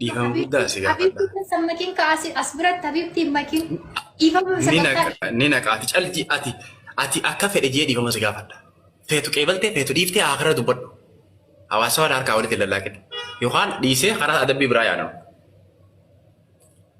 Dhiifama guddaa si gaafadha. Habibti keessa makiin ka asi as biratti habibti makiin dhiifama Ni sagantaa naqa- ni naqaati. Calti ati ati akka fedhe jee dhiifama si gaafadha. Feetu qeebaltee feetu dhiiftee haakara dubbadhu. Hawaasa waan harkaa walitti lallaaqin. Yookaan dhiisee karaa adabbii biraa yaadama.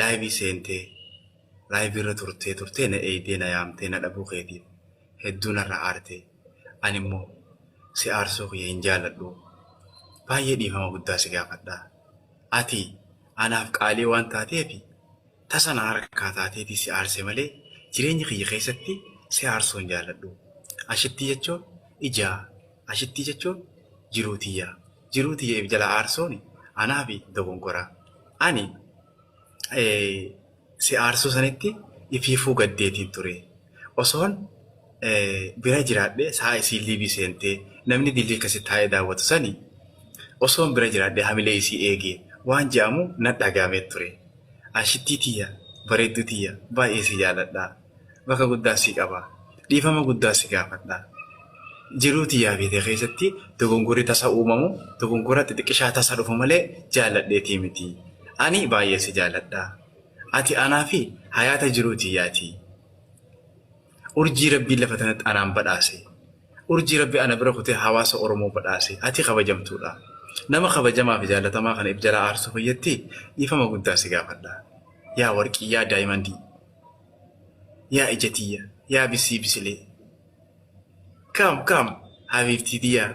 Live seentee live irra turtee turtee na eeydee na yaamtee na dhabuu keetiif hedduu narra aartee ani immoo si aarsuu kiyya hin jaaladhuu baay'ee dhiifama guddaa si gaafadha ati anaaf qaalii waan taateef tasa na harkaa taateeti si aarse malee jireenya kiyya keessatti si aarsuu hin jaaladhu ashittii jechuun ijaa Ashittii jechuun jiruu tiyya. Jiruu tiyya if jalaa aarsuun anaafi dogongora. Ani si aarsuu sanitti ifiifuu gaddeetiin ture. Osoon bira jiraadhee sa'a isiin liivii seentee namni dilii kasi taa'ee daawwatu sani osoon bira jiraadhee hamilee isii eege waan je'amu nadhagahame ture. Ashittii tiyya, bareedduu tiyya baay'ee si jaaladha. bakka guddaa si qaba. Dhiifama guddaa si gaafadha. Jiruu tiyyaa fi tee keessatti dogongorri tasa uumamu dogongora xixiqqishaa tasa dhufu malee jaalladheetii miti. Ani baay'ee si jaalladha. Ati anaa fi hayaata jiruu tiyyaati. Urjii Rabbiin lafa tanatti anaan badhaase. Urjii Rabbi ana bira kutee hawaasa Oromoo badhaase. Ati kabajamtuudha. Nama kabajamaa fi jaallatamaa kana if jalaa aarsuu fayyatti dhiifama guddaa si gaafadha. Yaa warqii, yaa daayimandii. Yaa ija tiyya yaa bisii bisilee. Come come habiibtii tiyyaa.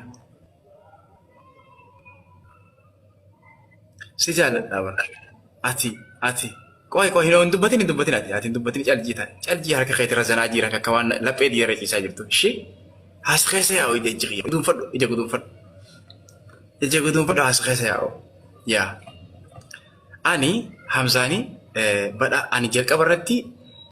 Si jaalladhaa bar. Ati ati qoy qoy hin hin dubbatin hin dubbatin ati ati hin dubbatin caljii taate caljii harka keetii irra zanaa jiran akka waan laphee diya irra ciisaa jirtu ishee haas keessa yaa'u ija ija kiyya guduunfadhu ija guduunfadhu ija guduunfadhu haas keessa yaa'u yaa. Ani hamzaani badha ani jalqaba irratti